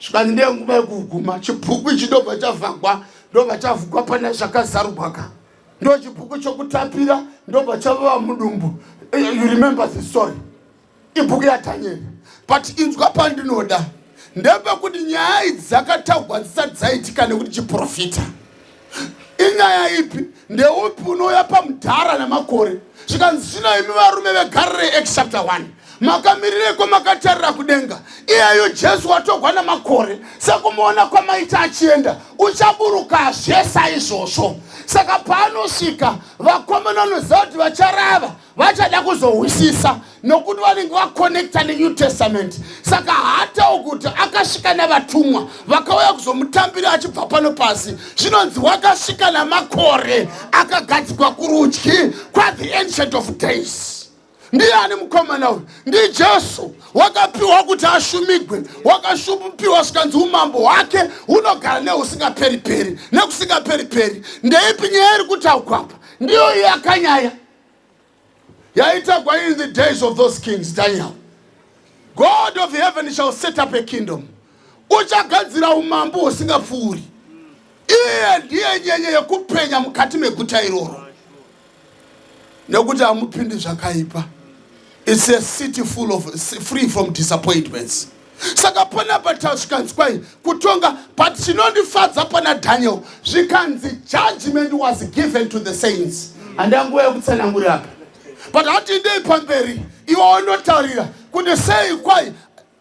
zvikanzi ndiye nguva yekuguma chibhuku ichi ndobva chavhagwa ndobva chavhugwa pane zvakazarugwaka ndo chibhuku chokutapira ndobva chavava mudumbu eh, you remember the story ibhuku yadhanyeri but inzwa pandinoda ndepekuti nyaya idzi dzakataugwa dzisati dzaitika nekuti chiprofita inyaya ipi ndeupi unouya pamudhara nemakore zvikanzi zvino imi varume vegarire act chapter 1 makamirireko makatarira kudenga iyeyo jesu watogwa nemakore sekumuona kwamaita achienda uchaburukazve saizvozvo saka paanosvika vakomana vanoziva kuti vacharava vachada kuzohwisisa nokuti vanenge vakonekta nenew testament saka haatawo kuti akasvika navatumwa vakauya kuzomutambira achibva pano pasi zvinonzi wakasvika namakore akagadzikwa kurudyi kwathe ancient of days ndiani mukomana uyu ndijesu wakapiwa kuti ashumigwe wakashupiwa zvikanzi umambo hwake hunogara neusingaperi peri nekusingaperi peri ndeipi nyaya iri kutaugwapa ndiyo iyo yakanyaya yaitagwa in the days of those kings daniel god of heaven shall set up a kingdom uchagadzira umambo husingapfuuri iye ndiye nyenye yekupenya mukati meguta iroro nekuti hamupindi zvakaipa its a city full of free from disappointments mm. saka panapa tazvikanzwai kutonga but chinondifadza pana daniel zvikanzi judgment was given to the saints handina nguva yekutsanangura apa but hatindei pamberi iwe wanotaurira kuti sei kwai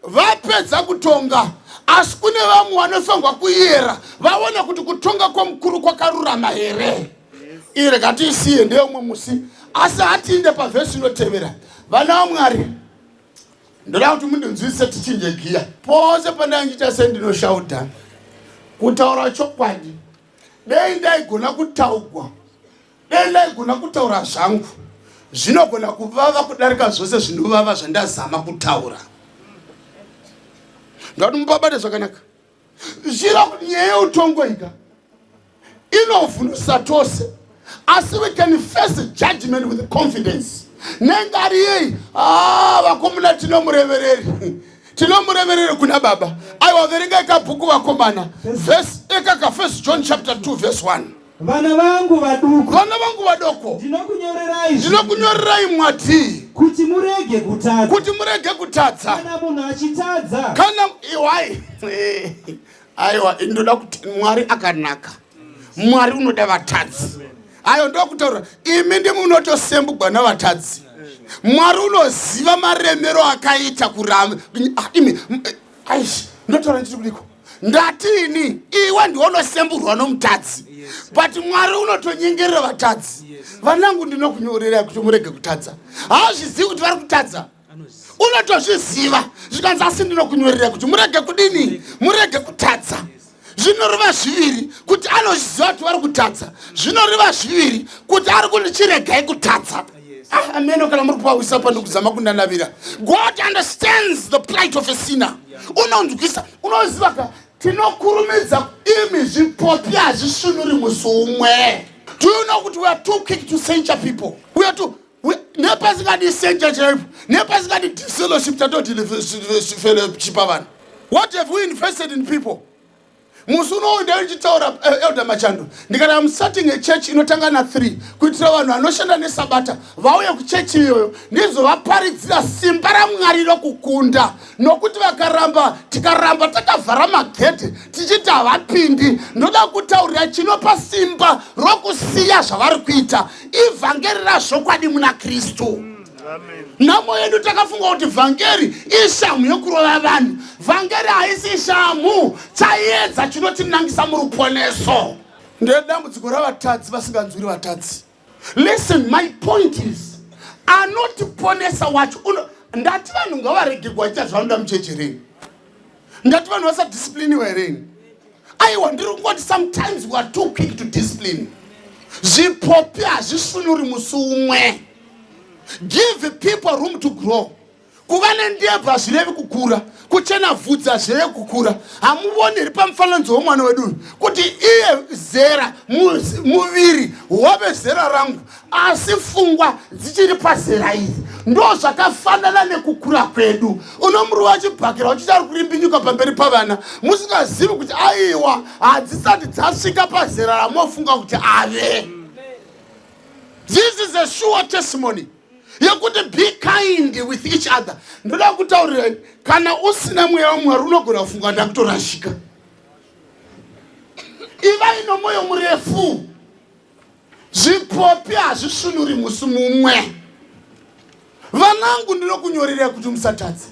vapedza kutonga asi kune vamwe vanofanirwa kuyera vaona kuti kutonga kwamukuru kwakarurama here ii rekatiisiye ndeumwe musi asi hatiinde pavhesi inotevera vana vamwari ndoda kuti mundinzwisise tichinje giya pose pandaindiita sendinoshauda kutaura chokwadi dei ndaigona kutaugwa dei ndaigona kutaura zvangu zvinogona kuvava kudarika zvose zvinovava zvandazama kutaura ndoda kuti mupabate zvakanaka zviro nyaya yeutongoika inovhundusa tose asi we can face judgment with confidence nengari yei ah, vakomuna tinomurevereri tinomurevereri kuna baba aiwa verenga ikabhuku vakomana vhesi ekaka first john chapter 2 vhesi 1 Vana vangu vaduku. Vana vangu vadoko. Ndinokunyorerai. Ndinokunyorerai mwati. Kuti murege kutadza. Kuti murege kutadza. Kana munhu achitadza. Kana iwai. Aiwa ndoda kuti Mwari akanaka. Mwari unoda vatadzi. Ayo ndokutaura imi ndimunotosembugwa navatadzi. Mwari unoziva maremero akaita kuramba. Ah, imi aish ndotaura ndiri kudiko ndati ini iwe ndiwe unosemburwa nomutadzi but mwari unotonyengerera vatadzi vanangu ndinokunyorera kuti murege kutadza hauzvizivi kuti vari kutadza unotozviziva zvikanzi asi ndinokunyorera kuti murege kudini murege kutadza zvinoreva zviviri kuti anozviziva kuti vari kutadza zvinoreva zviviri kuti ari kuti chiregai kutadza ah, ameno kana muri kuwawisa pano kuzama kundanavira god understands the plight of a sinner unonzwisa unoziva ka tinokurumidza imi zvipopi hazvisvinuri musi umwe do you know kuti weare too quick to censure people weare too nepasingadi senja chaipo nepasingadi fellowship tatodilifellowshipa vanhu what have we invested in people musi unowo ndaichitaura eh, elder machando ndikati am starting a church inotanga na three kuitira vanhu vanoshanda nesabata vauye kuchechi iyoyo ndizovaparidzira simba ramwari rokukunda nokuti vakaramba tikaramba takavhara magedhi tichiti havapindi ndoda kutaurira chinopa simba rokusiya zvavari kuita ivhangeri razvokwadi muna kristu nhamo yedu takafunga kuti vhangeri ishamhu yokurova vanhu vhangeri haisi shamhu chaiedza chinotinangisa muruponeso ndedambudziko ravatadzi vasinganzwiri vatadzi listen my point is anotiponesa wacho ndati vanhu ngavaregegwa aita zvanoda mucheche reni ndati vanhu vasadisipliniwa hereni aiwa ndiri kungoti sometimes we are too quick to discipline zvipopi hazvisunuri musi umwe give people room to grow kuva nendebvu hazvirevi kukura kuchena vhudzi hazvirevi kukura hamuvoni iri pamufananidzo womwana wedu uyu kuti iye zera muviri wave zera rangu asi fungwa dzichiri pazera iri ndo zvakafanana nekukura kwedu unomuruva achibhakira uchiti ari kurimbinyuka pamberi pavana musingazivi kuti aiwa hadzisati dzasvika pazera ramofunga kuti ave this is a sure testimony yekuti be kind with each other ndoda kutaurirai kana usina mweya wamwari unogona kufunga ndakutorashika ivai nomwoyo murefu zvipopi hazvisvinuri musi mumwe vanangu ndinokunyorerai kuti musatadze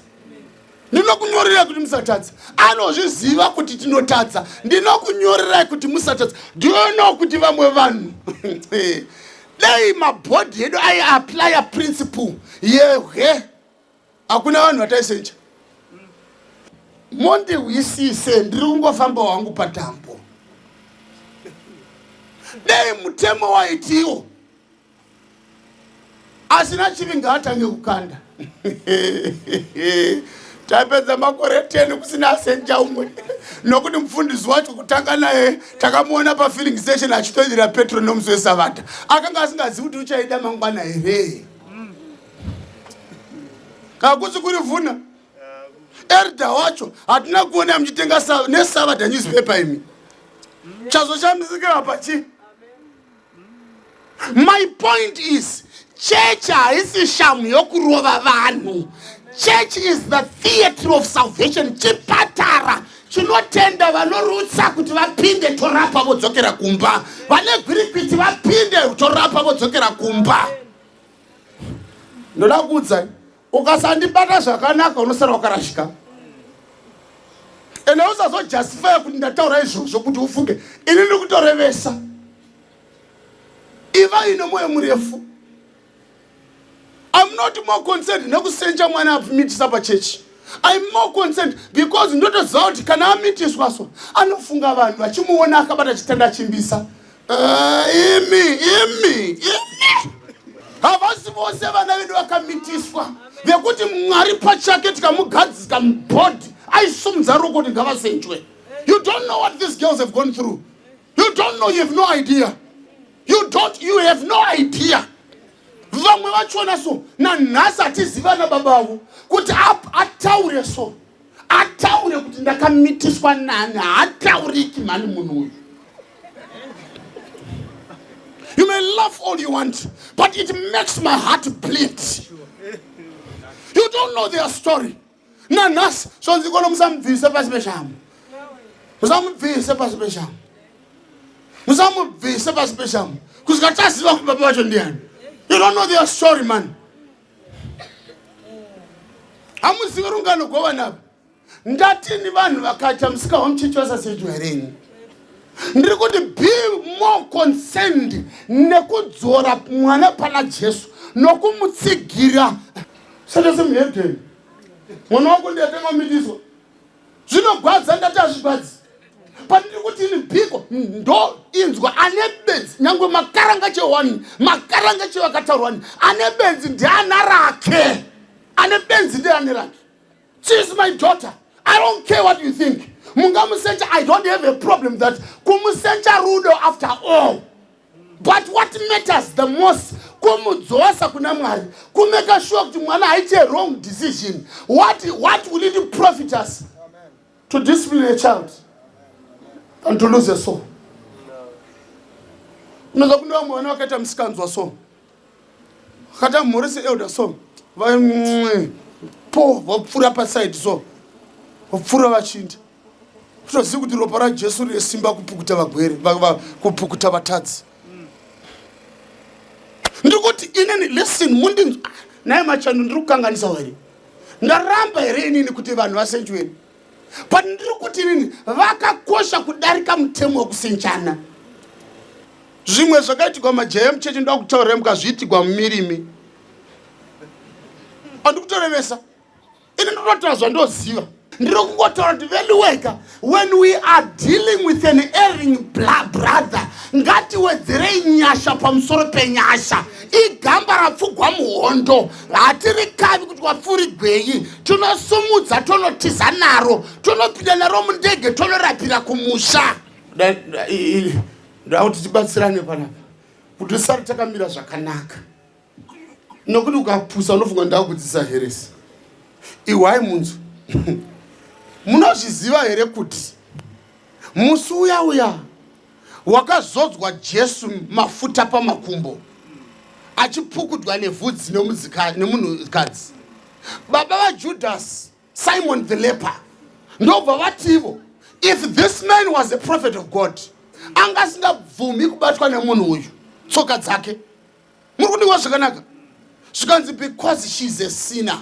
ndinokunyorerai kuti musatadza anozviziva kuti tinotadza ndinokunyorerai kuti musatadza do you know kuti vamwe vanhu dai mabhodhi edu aiaplya principle yehwe hakuna vanhu vataisenja mondihwisise ndiri kungofamba wangu padambo dai mutemo waitiwo asina chivi ngaatange kukanda tapedza makore 10 kusina asenja umwe nokuti mufundisi wacho kutanga naye takamuona pafilling station achitoidira petro nomusi wesavata akanga asingazivi kuti uchaida mangwana here kakusi kuri vhuna erda wacho hatina kuona muchitenga nesavata newspaper imi chazo chamisikira pachi my point is chechi haisi shamhu yokurova vanhu church is the theatre of salvation chipatara chinotenda vanorutsa kuti vapinde torapa vodzokera kumba vane gwirikwiti vapinde torapa vodzokera kumba ndoda kuudzai ukasandibata zvakanaka unosara wakarashika ende usazojustifya kuti ndataura izvozvo kuti ufunge ini ndiri kutorevesa iva ine mwoyo murefu im not more concerned nekusenja mwana amitisa pachechi im more concerned because ndotoziva kuti kana amitiswa so anofunga vanhu vachimuona akabata chitanda chimbisa Ah, imi imi imi havasi vose vana vedu vakamitiswa vekuti mwari pachake tikamugadzika mubhodhi aisumudza ruko kuti ngavasenjwe you don't know what these girls have gone through you don't know you have no idea you don't you have no idea vamwe vachona so nanhasi hatizivana baba avo kuti ataure so ataure kuti ndakamitiswa nani haatauriki mhani munhu uyu you may laugh all you want but it makes my heart bleed you don't know their story nanhasi zvonzi kono musamubvise pasi peshamu musamubvise pasi peshamu musamubvise pasi peshamu kusika taziva kuti baba vacho ndiani you don't know their story mani hamuzive rungano govanapa ndatini vanhu vakacha musika wamuchechi vasasejwa here ini ndiri kuti be more concerned nekudzora mwana pana jesu nokumutsigira sata semuhedheni mwana wako ndiyatenga mitiswa zvinogwadza ndati hazvigwadzi pandiri kuti ini biko ndo inzwa ane benzi nyange makaranga chewani makaranga chewakataurwani ane benzi ndiana rake ane benzi ndiane rake she is my daughter i don't care what you think mungamusecha i don't have a problem that kumusecha rudo after all but what matters the most kumudzosa kuna mwari kumeka shuwa kuti mwana haite wrong decision what, what will it profit us to discipline a child and to lose a soul unonza kune vamwe vana vakaita musikanzwa so Kata mhorese elder so vaimwe po vapfura paside so vapfura vachinda kutozivi kuti ropa rajesu rine simba kupukuta vagwere kupukuta vatadzi ndikuti inini listen mundinzwa naye machando ndiri kukanganisa here ndaramba here inini kuti vanhu vasenjweni but ndiri kuti inini vakakosha kudarika mutemo wekusinjana zvimwe zvakaitigwa majaya emuchechi ndoda kutaurira mukazviitigwa mumirimi andikutorevesa ini ndinotaura zvandoziva ndiri kungotaura kuti veluweka when we are dealing with an airing brother ngatiwedzerei nyasha pamusoro penyasha igamba rapfugwa muhondo hatirikavi kuti wapfurigwenyi tonosumudza tonotiza naro tonopinda naro mundege tonorapira kumusha ndakuti tibatsirane panapa kuti usati takamira zvakanaka nokuti ukapusa unofunga ndakudzisa heresi ihwai munzwi munozviziva here kuti musi uya uya wakazodzwa Jesu mafuta pamakumbo achipfukudwa nevhudzi nemunhukadzi baba vaJudhasi Simon the leper ndobva vativo if this man was a prophet of God anga asingabvumi kubatwa nemunhu uyu tsoka dzake muri kundiwa zvakanaka zvikanzi because shes a sinner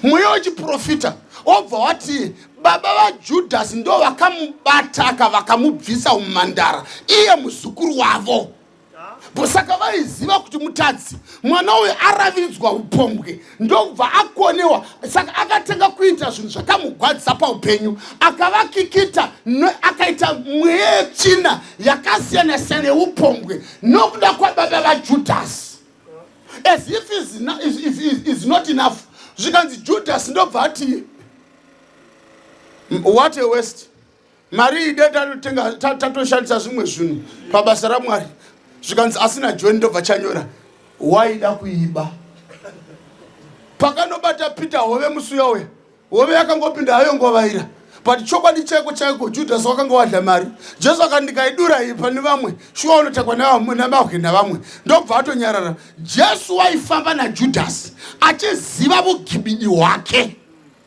mweya wechiprofita obva wati baba vajudhasi ndo vakamubata aka vakamubvisa umhandara iye muzukuru wavo saka vaiziva kuti mutadzi mwana uyu araviridzwa upombwe ndokubva akonewa saka akatanga kuita zvinhu zvakamugwadzisa paupenyu akavakikita akaita mweya yetsvina yakasiyana siyana yeupombwe nokuda kwababa vajudhasi as if is, is, is, is, is not enough zvikanzi judhasi ndobva ati what a west mari ide tatotenga tatoshandisa zvimwe zvinhu pabasa ramwari zvikanzi asina john ndobva chanyora waida kuiba pakanobata peter hove musi uya uya hove yakangopinda hayo ngovaira but chokwadi chaiko chaiko judhasi wakanga wadla mari jesu akati ndikaidura iyi pane vamwe shuwa unotakwa namahwe navamwe ndobva atonyarara jesu waifamba najudhasi achiziva vugibidi hwake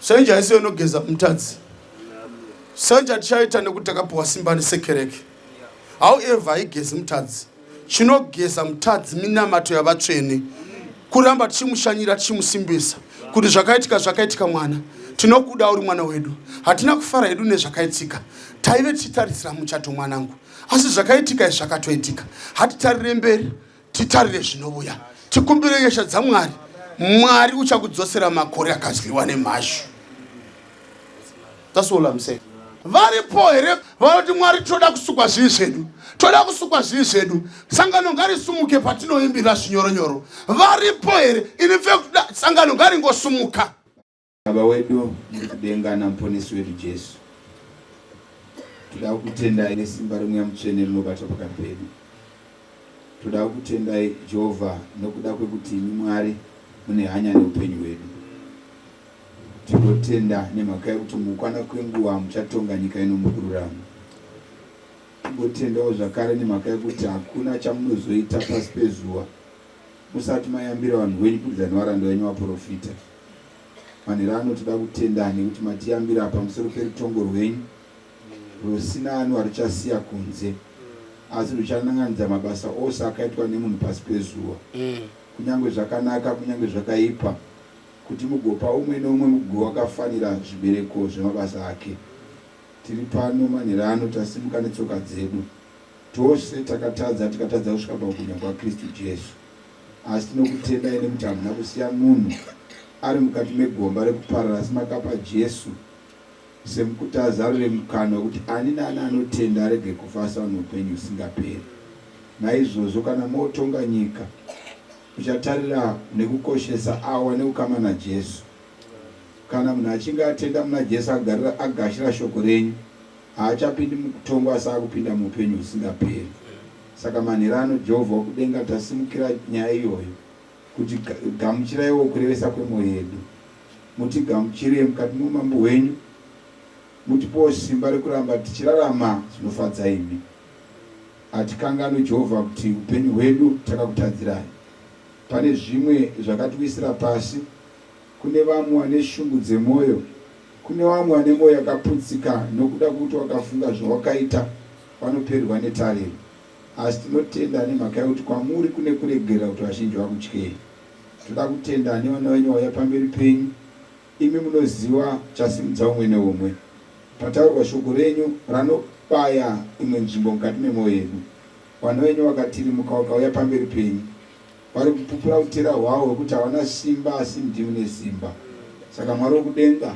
Sanje haisi yonogeza mutadzi. Sanje atichaita nekuti takapiwa simba nesekereke. However, haigezi mutadzi. Chinogeza mutadzi minamato yavatsvene. Kuramba tichimushanyira tichimusimbisa kuti zvakaitika zvakaitika mwana tinokuda uri mwana wedu hatina kufara hedu nezvakaitika taive tichitarisira muchato mwanangu asi zvakaitika izvi zvakatoitika hatitarire mberi titarire zvinovuya tikumbire nyasha dzamwari mwari uchakudzosera makore akadyiwa nemhashu thats all im saying varipo here vanoti mwari tinoda kusukwa zvivi zvedu toda kusukwa zvivi zvedu sangano ngarisumuke patinoimbira zvinyoronyoro varipo here ini fe kuda sangano ngaringosumuka Baba wedu muri kudenga naMuponesi wedu Jesu, toda kukutendai nesimba remweya mutsvene rinobatwa pakati pedu. Toda kukutendai Jehovha nokuda kwekuti imi Mwari mune hanya neupenyu hwedu. Tinotenda nemhaka yekuti mukukwana kwenguva muchatonga nyika ino mukururama. Tingotendawo zvakare nemhaka yekuti hakuna chamunozoita pasi pezuva musati mayambira vanhu venyu kubudikidza nevaranda venyu vaprofita. Manhero ano toda kutenda nekuti matiyambira pamusoro perutongo rwenyu rwusina ano aruchasiya kunze asi rwuchanan'anidza mabasa ose akaitwa nemunhu pasi pezuva kunyange zvakanaka kunyange zvakaipa kuti mugopa umwe neumwe mugugo wakafanira zvibereko zvemabasa ake. Tiri pano manhero ano tasimuka netsoka dzedu tose takatadza tikatadza kusvika pakubwinya kwaKristu Jesu. Asi tinokutendai nekuti hamuna kusiya munhu ari mukati megomba rekuparara asi makapa Jesu semukutazarure mukana wekuti ani naani anotenda arege kufa asi aone upenyu husingaperi. Naizvozvo kana motonga nyika uchatarira nekukoshesa avo vane ukama naJesu. Kana munhu achinge atenda muna Jesu agarira agashira shoko renyu haachapindi mukutongwa asi akupinda muupenyu husingaperi. Saka manhero ano Jehovha wokudenga tasimukira nyaya iyoyo, kuti, Ga, gamuchiraiwo kurevesa kwemwoyo yedu. Mutigamuchire mukati moUmambo hwenyu, mutipewo simba rekuramba tichirarama zvinofadza imi. Hatikanganwi, Jehovha, kuti upenyu hwedu takakutadzirai. Pane zvimwe zvakatiwisira pasi, kune vamwe vane shungu dzemwoyo, kune vamwe vane mwoyo yakaputsika nokuda kwokuti wakafunga zvawakaita, Vanopererwa netariro. Asi tinotenda nemhaka yokuti kwamuri kune kuregerera kuti vazhinji vakutyei. Toda kutenda nevana venyu vauya pamberi penyu. Imi munoziva chasimudza umwe neumwe. Pataurwa shoko renyu ranobaya imwe nzvimbo mukati memwoyo yedu. Vana venyu vakatirimuka vakauya pamberi penyu. Vari kupupura utera hwavo hwekuti havana simba asi ndimi mune simba. Saka Mwari wokudenga,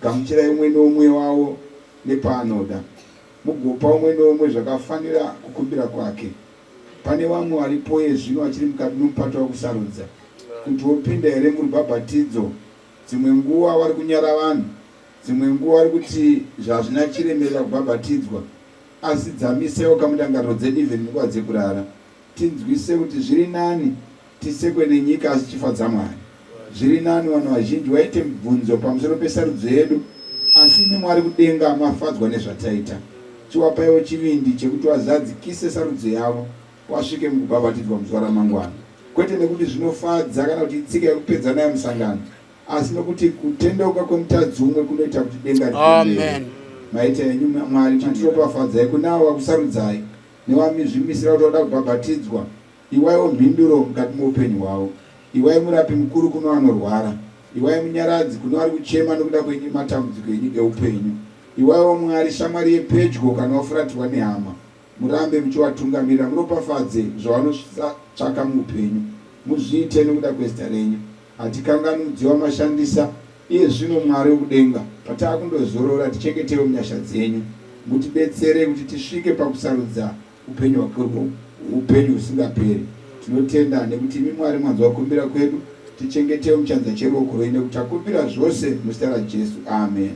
gamuchirai umwe neumwe wavo nepaanoda. Mugopa umwe noumwe zvakafanira kukumbira kwake. Pane vamwe varipo iye zvino vachiri mukati nomupato wokusarudza kuti wopinda here murubhabhatidzo. Dzimwe nguva vari kunyara vanhu, dzimwe nguva vari kuti zvazvina chiremerera kubhabhatidzwa. Asi dzamisaiwo ka mundangariro dzedu even munguva dzekurara. Tinzwise kuti zviri nani tisekwe nenyika asi chifadza Mwari. Zviri nani vanhu vazhinji vaite mibvunzo pamusoro pesarudzo yedu asi imi Mwari kudenga mafadzwa nezvataita. Chiwapaiwo chivindi chekuti vazadzikise sarudzo yavo vasvike mukubhabhatidzwa muzuva ramangwana. Kwete nekuti zvinofadza kana kuti itsika yekupedza nayo musangano asi nokuti kutendeuka kwemutadzi umwe kunoita kuti denga ripembere. Amen. Maita henyu Mwari chitiropafadzai kune avo vakusarudzai Newamizvimisira kuti wada kubhabhatidzwa, iwaiwo mhinduro mukati moupenyu hwavo. Iwai murapi mukuru kunevanorwara. Iwai munyaradzi kunevari kuchema nokuda kwenyu matambudziko enyu eupenyu. Iwaiwo Mwari shamwari yepedyo kana wafuratirwa nehama. Murambe muchiwatungamirira, muropafadze zvavanosvitsva tsvaka muupenyu. Muzviite nokuda kwezita renyu. Hatikanganudziwa mashandisa iye zvino Mwari wekudenga patakundozorora tichengetewo munyasha dzenyu mutibetsere kuti tisvike pakusarudza upenyu hwakurwo upenyu husingaperi tinotenda nekuti imi Mwari mwanzwa kumbira kwedu tichengetewo muchanza cheruoko rwenyu nekuti takumbira zvose muzita raJesu amen.